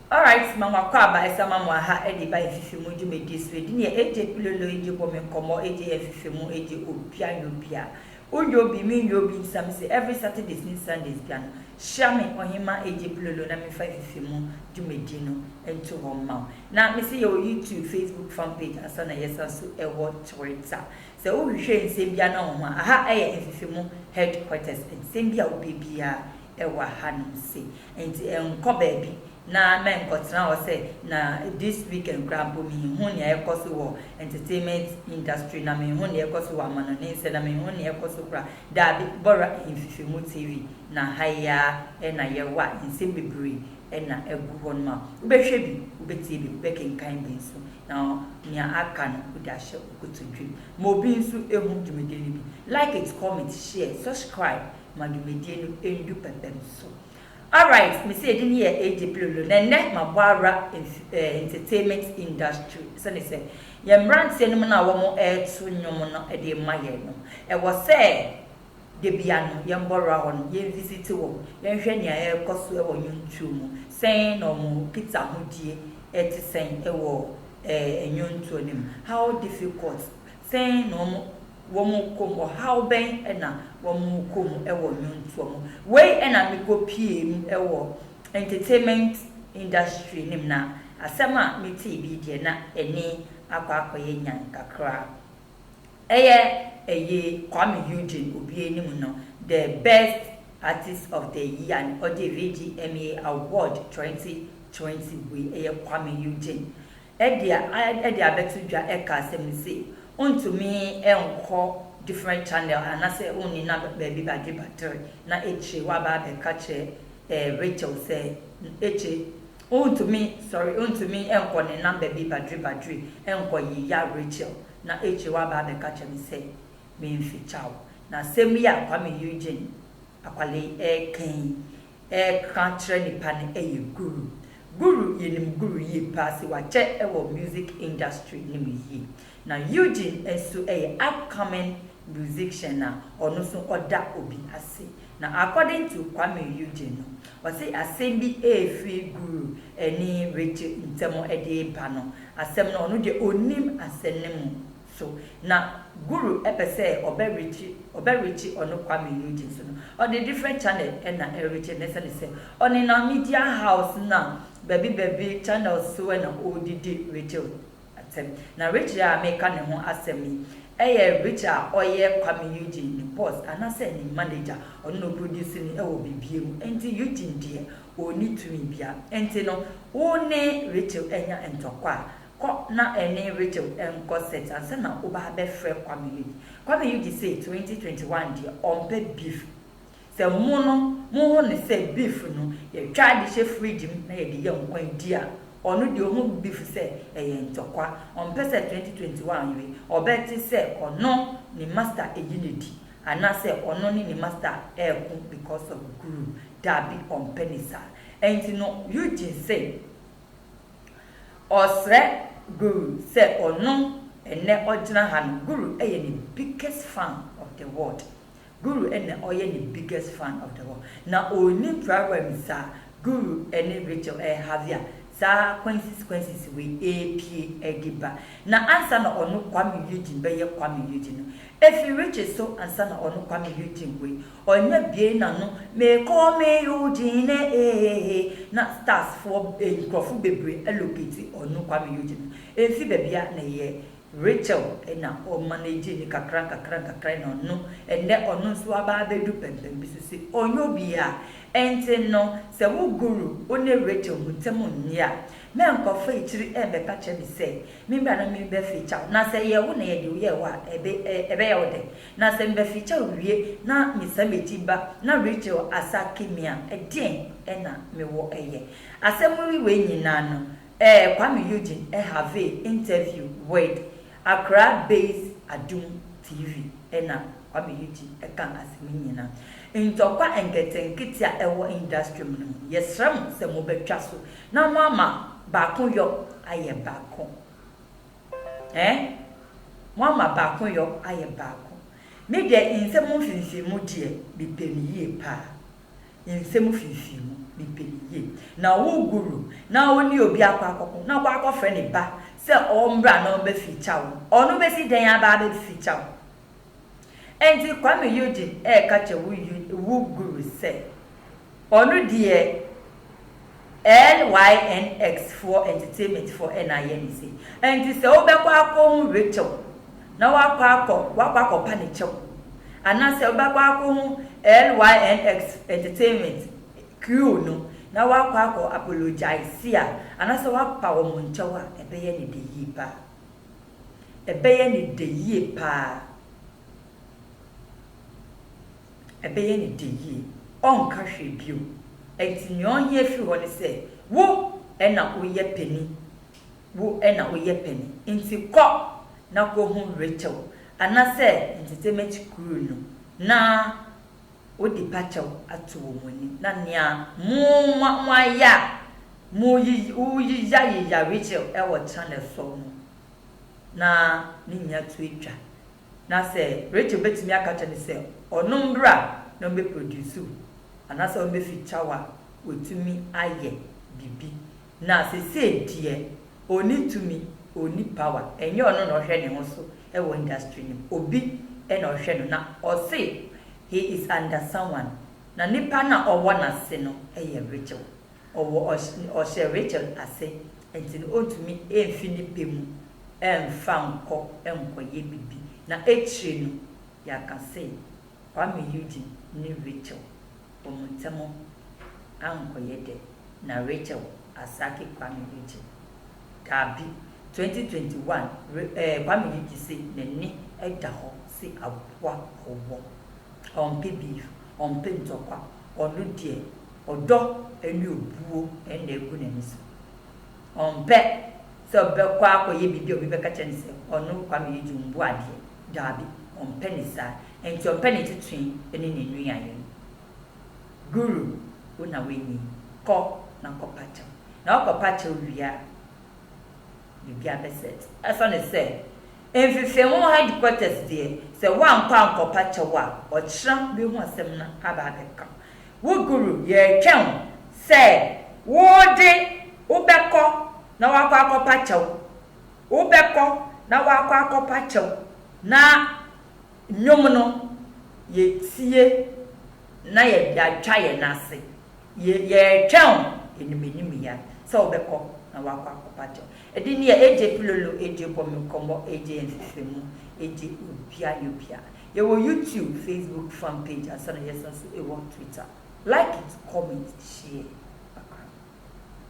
Alright ma moakɔ aba ɛsa ma mo aha ɛde ba ɛfifi mu dwumadie so ɛdi neɛ agye pilolo agye bɔ me nkɔmɔ agye ɛfifi mu agye obia nyɛ obia wo nyɛ obi me nyɛ obi nsa me se every Saturdays ne Sundays bia no hyira me ɔhema agye pilolo na me nfa ɛfifi mu dwumadie no nto hɔ mma wo na me se yɛwɔ YouTube Facebook fan page ansa na yɛsan so ɛwɔ Twitter sɛ wo hwehwɛ nsɛm bia na wo ho a aha ɛyɛ ɛfifi mu headquarters nsɛm bia wo pɛ biaa wɔ hanom se, enti nkɔ baabi na mɛnkɔtena hɔ sɛ, na this weekend koraa mpo menhu nea ɛrekɔ so wɔ entertainment industry na menhu nea ɛrekɔ so wɔ amanɔne nsɛ na menhu nea ɛrekɔ so koraa, daabi, bɔra Mfifemu TV na ha yi ara na yɛwɔ a nsɛm bebree na agu hɔnom a wobɛhwɛ bi, wobɛtie bi, wobɛkenkan bi nso na nea aka no wode ahyɛ wo kotodwem. Ma obi nso ɛhu dwumadi no bi. Like it, comment, share, subscribe ma dwumadie no ndu pɛpɛm so. Alright mese edin yɛ AJ Pilolo na ɛnɛ mabɔ awura entertainment industry sɛne sɛ yɛn mmranteɛ nom no a wɔn ɛɛto nnwom no de rema yɛn no ɛwɔ sɛ dabia no yɛn bɔ awura hɔ nom yɛn visiti wɔn yɛn hwɛ nea ɛɛkɔ so ɛwɔ nnwontuo mu sɛn na wɔn kita ahodie ɛte sɛn ɛwɔ ɛɛ nnwontuo no mu how difficult sɛn na wɔn Wɔkɔ mu ɔhaw bɛn na wɔkɔ mu wɔ nnwontoɔ mu? Wei na mekɔpuee mu wɔ entertainment industry no mu na asɛm a metee bi deɛ na ani akɔ akɔyɛ nyan kakra. Ɛyɛ ɛyi Kwame Eugene Obie anim no the best artist of the year no ɔde redi MA award 2020 wei ɛyɛ Kwame Eugene Ɛde a ɛde abɛto dwa ɛka asɛm no sei, ontumi nkɔ different channel anasɛ onni na baabi bade battery na akyire waba abɛka kyerɛ Rachel sɛ akyire ontumi sorry ontumi nkɔ ne number bi badre badre nkɔ yia Rachel na akyire waba abɛka kyerɛ me sɛ menfekyɛ wo na asɛm yi a Kwame Eugene Akwalei ɛɛka yi ɛka kyerɛ nipa no yɛ Guru. Guru yɛnim Guru yie paa sɛ wakyɛ wɔ music industry no mu yie. Na Eugene nso yɛ upcoming musician a ɔno nso ɔda obi ase. Na according to Kwame Eugene no, ɔse asɛm bi ɛrefiri Guru ne Richie ntam ɛde reba no, asɛm no ɔno deɛ ɔnnim asɛm no mu so na Guru pɛ sɛ ɔbɛ reache ɔbɛ reache ɔno Kwame Nugent so no ɔde different channel na ɛreache no ɛsɛne sɛ ɔnenam media house na bɛbi bɛbi channels so na ɔredidi reache asɛm na reache a meka ne ho asɛm yi ɛyɛ reache a ɔyɛ Kwame Nugent ne boss anasɛ ne manager ɔno na ɔproduce no ɛwɔ bibia mu ɛnti Eugene deɛ ɔnni tumi bia ɛnti no wo ne reache anya ntɔkwa a Kɔ na ɛne Rachel nkɔ sex ansa na wo ba abɛfrɛ Kwame Yugi. Kwame Yugi se 2021 deɛ ɔmpɛ beef. Sɛ mo no mo ho no sɛ beef no yɛ twa de hyɛ fridge mu na yɛde yɛ nkwan di a, ɔno deɛ ɔhu beef sɛ ɛyɛ ntɔkwa. Ɔmpɛ sɛ 2021 we ɔbɛte sɛ ɔno ne master ɛyi no di anaasɛ ɔno ne ne master ɛɛko because of guru. Daabi ɔmpɛ ne saa. Ɛnti no Eugene se. Ɔsrɛ Guru sɛ ɔno ɛnɛ ɔgyina ha no Guru yɛ ne biggest fan of the world Guru na ɔyɛ ne biggest fan of the world na ɔnnim Prabhupada nim saa Guru ne Rachel rehavi a saa Quincy's Quincy's wei repie ɛde ba na ansa na ɔno Kwame Eugene bɛyɛ Kwame Eugene no ɛfiri Richie so ansa na ɔno Kwame Eugene wei Ɔnyɛ bue n'ano mekɔ me Eugene eeheehe na stars foɔ nkorɔfo bebree alocate ɔno Kwame Eugene ɛmfi babia na ɛyɛ Rachel na ɔ manage no kakra nkakra nkakra na ɔno ɛnɛ ɔno nso aba abɛdu pɛmpɛn bi so se ɔnyɛ obia ɛnti no sɛ wo guru wo ne Rachel mu ntem nnye a mɛnkɔfa akyiri ɛɛbɛka kyerɛ me sɛ me mmra na me bɛ feature wo na sɛ ɛyɛ wo na yɛde wo yɛɛ hɔ a ɛbɛ ɛbɛyɛ wo dɛ Na sɛ mebɛfekyaw wie na mesan meti ba na Rachel asake me a, deɛn na mewɔ yɛ? Asɛm wi wei nyinaa no, ɛɛ Kwame Eugene ɛhavee interview wid Accra based Adum TV ɛna Kwame Eugene ɛkaa asɛm yi nyinaa. Ntɔkwa nketenkete a ɛwɔ industry mu no mu, yɛsrɛ mo sɛ mobɛtwa so na moama baako yɔ ayɛ baako. Ɛ? Moama baakoyɔ ayɛ baako. Me deɛ nsɛm mfimfimmu deɛ, mepɛ no yie paa. Nsɛm mfimfimmu, mepɛ no yie. Na wo Guru na ɔne obi akɔ akɔko na ɔkɔ akɔfrɛ ne ba sɛ ɔmmra na ɔmmɛfeature wo. Ɔno bɛsi dɛn aba abɛfeature wo? Ɛnti Kwame Eugene ɛɛka kyɛ wo wo guru sɛ ɔno deɛ LYNX foɔ entertainment foɔ ɛna ayɛ ne sei. Ɛnti sɛ wobɛkɔ akɔ hu Rachel na wakɔ akɔ wakɔ akɔ pa ne kyɛw anaa sɛ wobɛkɔ akɔ hu LYNX entertainment crew no na wakɔ akɔ apologize a anaa sɛ wapa wɔn nkyɛw a ɛbɛyɛ ne de yie paa. Ɛbɛyɛ ne dɛ yie paa. Ɛbɛyɛ ne dɛ yie. Ɔrenka hwee bio. Ɛnti nea ɔhia firi hɔ ne sɛ, wo na woyɛ pani. Wo na woyɛ pani. Nti kɔ na kɔhu Rachel, anasɛ Ntetemakyi Kuru no, na. Wodi pa kyɛw ato wɔn anim, na nea mo nwa wɔayɛ a moyeyayeyare kyerɛ wɔ channel so no, na ne nyinaa tu atwa. Na sɛ Rachel betumi aka akyerɛ no sɛ ɔno mbra na ɔmbɛ produce anaasɛ ɔmbɛ feature wo a, watumi ayɛ biribi. Na sesei deɛ ɔnni tumi, ɔnni power, ɛnyɛ ɔno na ɔhwɛ ne ho so wɔ industry no mu, obi na ɔhwɛ no na ɔse he is under someone, na nnipa no a ɔwɔ n'ase no yɛ Rachel, ɔwɔ ɔhyɛ Rachel ase nti no ɔntumi mfi ne pɛ mu mfa nkɔ nkɔyɛ biribi, na akyire no yɛaka se Kwame Eugene ne Rachel. Bomutsɛmɔ annkɔyɛ dɛ na Rachel Asake Kwame regye. Daabi, twenty twenty one re eh Kwame yi gye se n'ani da hɔ se aboa ɔwɔ. Ɔmpɛ beef, ɔmpɛ ntɔkwa, ɔno deɛ ɔdɔ ne obuo na agu n'ani so. Ɔmpɛ sɛ ɔbɛkɔ akɔyɛ biribi a obi bɛka kyerɛ no sɛ ɔno Kwame yi gye ombu adeɛ Daabi, ɔmpɛ ne saa. Enti ɔmpɛ ne tetoe ne ne nuayɛ no. Guru, wo na woanyin. Kɔ na kɔpa kyɛw. Na wokɔpa kyɛw wie a, biribi abɛset. Ɛsiane sɛ mfefeho headquarters deɛ, sɛ woankɔ ankɔpa kyɛw a, ɔkyena wobɛhu asɛm no aba abɛka wo. Wo Guru, yɛretwɛn wo sɛ wo de wobɛkɔ na woakɔ akɔpa kyɛw. Wobɛkɔ na woakɔ akɔpa kyɛw na nnwom no yɛtie na yɛde atwa yɛn ase. Yɛretwɛn wo animanim ya sɛ wobɛkɔ na woakɔ akɔpa kyɛw. Ɛde nea AJ Pilolo, AJ Bɔ Me Nkɔmmɔ, AJ Yɛ Nhwehwɛmu, AJ Obia Yɛ Obia. Yɛwɔ YouTube, Facebook fan page ansa na yɛsan nso wɔ Twitter. Like it, comment, share.